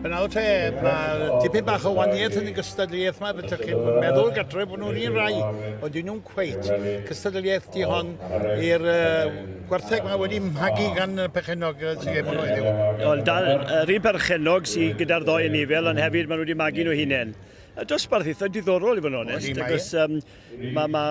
Yn awr te, mae tipyn bach o waniaeth yn y gystadleuaeth yma, beth chi'n meddwl gatref bod nhw'n un rai, ond dyn nhw'n cweit. Cystadleuaeth di hon i'r uh, gwartheg mae wedi magu gan y pechenog sy'n gem o'n oedd Wel, dal, yr un perchenog sy'n gyda'r ddoe yn nifel, ond hefyd maen nhw wedi magu nhw hunain. Y dosbarth eitha diddorol i fod yn onest, agos um, Mae ma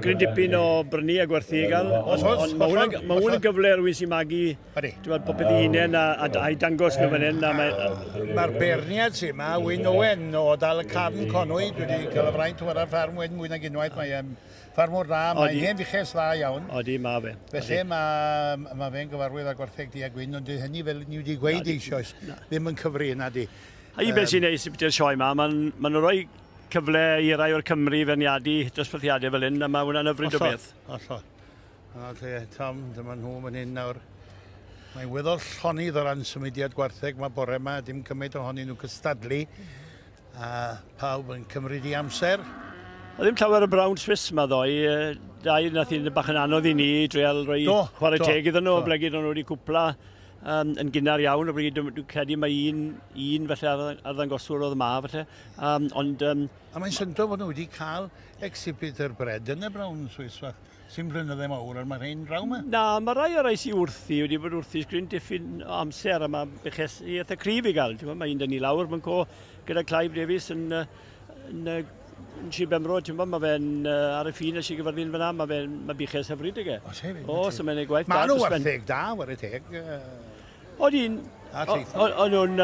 gryn dipyn o brynu a gwerthu i gael, ond on, mae hwnna'n ma hwn yn gyfle rwy'n sy'n magu bod popeth i hunain a, a, a dangos nhw fan hyn. Mae'r ma beirniad sy'n yma, Wyn Owen o Dal y Carn Conwy, dwi wedi cael y fraint o ar ffarm Wyn mwy nag unwaith, mae e'n ffarmwr dda, mae'n hen fuches dda iawn. Odi, mae fe. Felly mae, mae fe'n gyfarwydd â gwertheg di a gwyn, ond dwi hynny fel ni wedi gweud eisoes, ddim yn cyfri, na di. A i beth sy'n neis i beth yw'r sioe yma, mae'n ma rhoi cyfle i rai o'r Cymry feirniadu dosbarthiadau fel hyn, a mae hwnna'n yfryd o beth. Hollol, A lle, Tom, dyma nhw fan hyn nawr. Mae'n weddol llonydd o ran symudiad gwartheg mae bore yma, dim cymaint ohonyn nhw cystadlu, a pawb yn cymryd i amser. A ddim llawer o Brown Swiss yma ddoe, dau nath i'n bach yn anodd i ni dreol rhoi do, chwarae do, teg iddyn nhw, ble gyd nhw wedi cwpla um, yn gynnar iawn, o bryd dwi'n credu mae un, un felly arddangoswr oedd yma felly. Um, ond... Um, a mae'n syndod fod nhw wedi cael exhibit yr bred yn y brawn yn Swiss fach, sy'n flynyddau mawr ar mae'r hyn draw yma. Na, mae rai o'r rhai sy'n wrthi wedi bod wrthi sgrin diffyn amser a mae beches i eitha cryf i gael. Mae un dyn ni lawr, mae'n co gyda Clive Davies yn, yn, yn yn si Bemro, ti'n bod, mae fe'n uh, ar y ffin a si gyfyrddin fyna, mae fe'n ma biches hyfryd ag e. O, se O, so mae'n ei gwaith da. Mae nhw wartheg da, war y teg. Oedd hi'n... O'n nhw'n...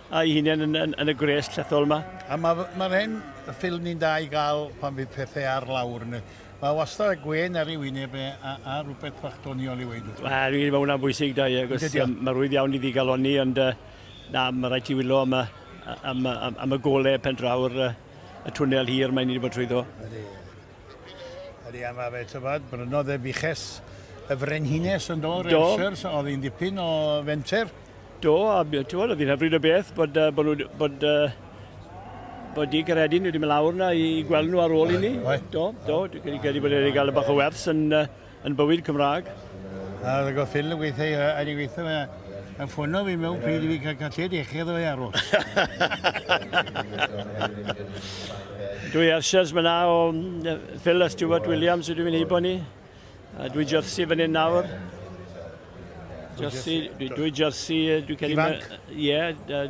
a'i hunain yn, yn, yn y gwres llethol yma. A mae'r ma hen ffilm ni'n da i gael pan fydd pethau ar lawr. Mae wastad y gwen ar ei wyneb e, a, a rhywbeth bach doniol i weid. Wel, mae hwnna'n bwysig da, ie. Mae rwydd iawn i ddigalonni, ond uh, na, mae rhaid ti wylo am y, am, am, am y golau pen draw'r uh, y twnnel hir mae'n ni wedi bod trwyddo. Ydy. Ydy, a mae fe, tybed, brynodd e buches y frenhines yn do, Rensers, so oedd hi'n dipyn o fenter. Do, a ti'n oedd hi'n hyfryd o beth bod, uh, bod, nhw, bod, uh, bod di Garedin wedi mynd lawr na i gweld nhw ar ôl i ni. Do, do, dwi'n credu bod wedi cael y bach o wers yn, uh, Yn bywyd Cymraeg. A oedd y goffin yn gweithio i a ni gweithio fe yn ffwno fi mewn pryd i fi cael cael lled eich edo fe arw. Dwi eisiau myna o Phil a Stuart Williams ydw i'n heibo ni. A dwi jersey fan hyn nawr. Jersey, dwi jersey, dwi cedi... Ifanc? Ie,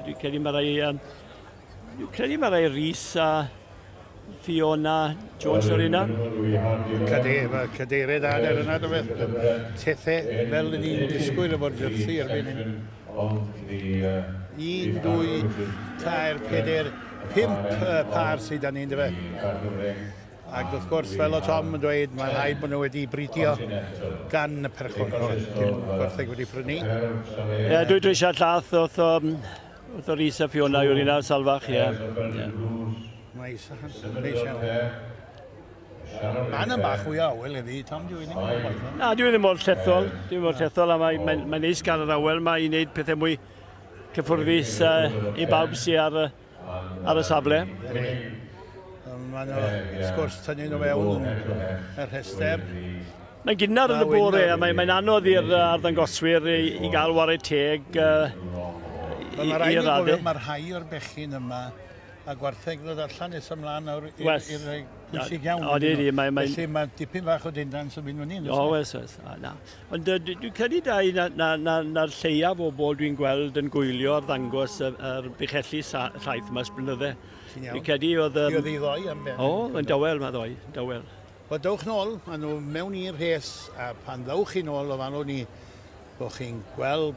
dwi cedi mae rhai... Um, Dwi'n credu mae fe Rhys a Fiona Jones o'r yna. Cade, mae cadeirydd ader yna, do beth, tethe fel yn ni'n disgwyl efo'r jersi erbyn hyn. Un, dwy, tair, peder, pimp par sydd â ni'n dyfa. Ac wrth gwrs, fel o Tom yn dweud, mae'n rhaid bod nhw wedi bridio gan y perchwr. Dim gwertheg wedi prynu. Ie, dwi dwi eisiau llath oedd um, Torisa Fiona yw'r un ar salfach, ie. Mae Sahan yn siarad. Anna bach fwy awel i fi, tam dwi ddim yn gwaith. Na, dwi ddim mor llethol, dwi mor llethol, a mae'n mae, mae neis gael yr awel mae i wneud pethau mwy cyffwrfus uh, i bawb sy'n ar, ar y safle. Mae'n sgwrs tynnu nhw fewn yn y rhestr. Mae'n gynnar yn y bore a mae'n anodd i'r arddangoswyr i gael wared teg i i'r adeg. Mae rhai o'r bechyn yma a gwartheg ddod allan nes ymlaen nawr i'r pwysig iawn. O, di, di. Mae, mae... Felly mae dipyn fach o dindan sy'n mynd fyny. O, wes, wes. O, na. Ond uh, dwi'n credu da i na'r na, na, na lleiaf o bobl dwi'n gweld yn gwylio ar ddangos yr, yr buchelli llaeth yma sblynydde. Dwi'n credu oedd... Um... Oedd ei ddoi am ben. O, yn dawel, mae ddoi. Dawel. Wel, dowch nôl â nhw mewn i'r rhes, a phan ddowch chi nôl, ofalwn i bo' chi'n gweld